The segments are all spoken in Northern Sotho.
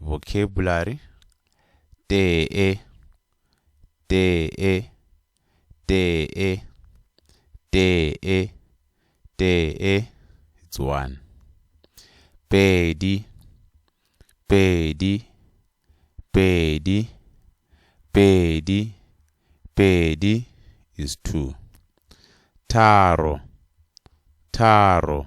Vocabulary Tee Tee Tee Tee Tee It's one Pedi Pedi Pedi Pedi Pedi is two Tharo Tharo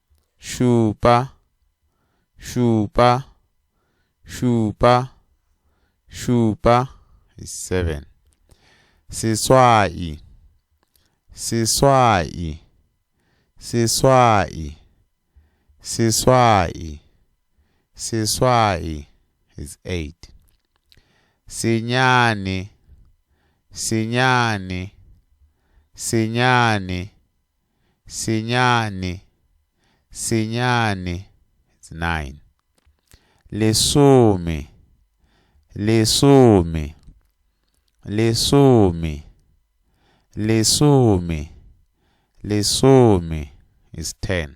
šupa, šupa, šupa, šupa, is seven. Seswai, seswai, seswai, seswai, seswai, is eight. Senyane, senyane, senyane, Senyane, senyane, it's nine. Lesome, lesome, lesome, lesome, lesome, it's ten.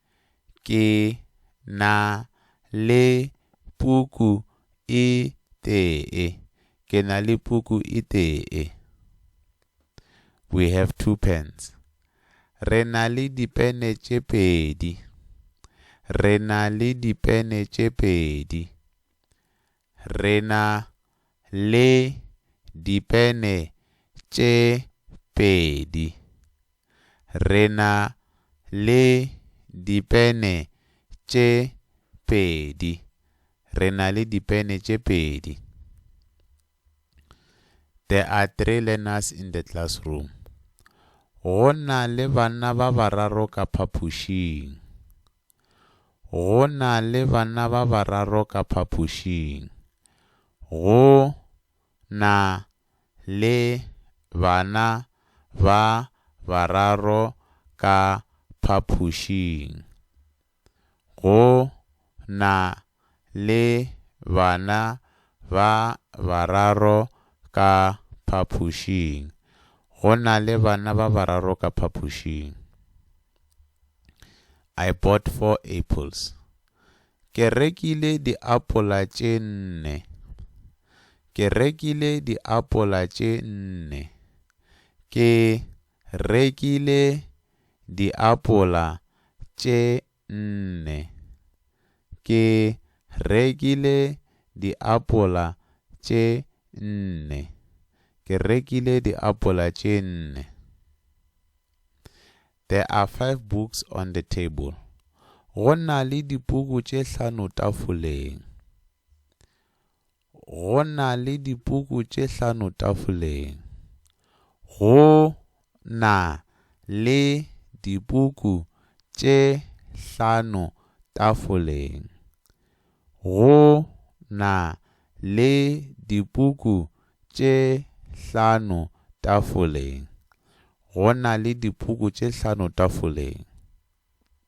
ke na le puku e tee. Ke na le puku e tee. We have two pens. Re na le dipene tše pedi. Re na le dipene tše pedi. re na le dipene tše pedi. Re na le dipene tše pedi. Re na le dipene tše pedi. There are three learners in the classroom. Go na le banna ba bararo ka phapošing. Go na le banna ba bararo ka phapošing. Go na le bana ba bararo ka phapošing. Go na le bana ba bararo ka phapošing. Go na le bana ba bararo ka phapošing. I bought four apples. Ke rekile diapola tše nne. Ke rekile diapola tše nne. Ke rekile diapola tše nne. Ke rekile diapola tše nne. Ke rekile diapola tše nne. There are five books on the table. Go na le dipuku tše hlano tafoleng. Go na le dipuku tše hlano tafoleng. Go na le dipuku tše hlano tafoleng. Go na le dipuku tše hlano tafoleng. Go na le dipuku tše hlano tafoleng.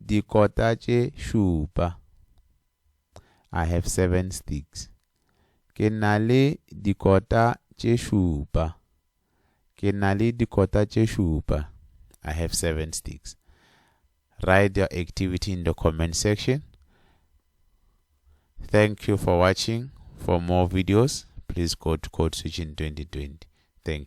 dikota tše šupa. I have seven sticks. Ke na le dikota tše šupa. Ke na le dikota tše šupa. I have seven sticks. Write your activity in the comment section. Thank you for watching. For more videos, please go to Code Switching 2020. Thank you.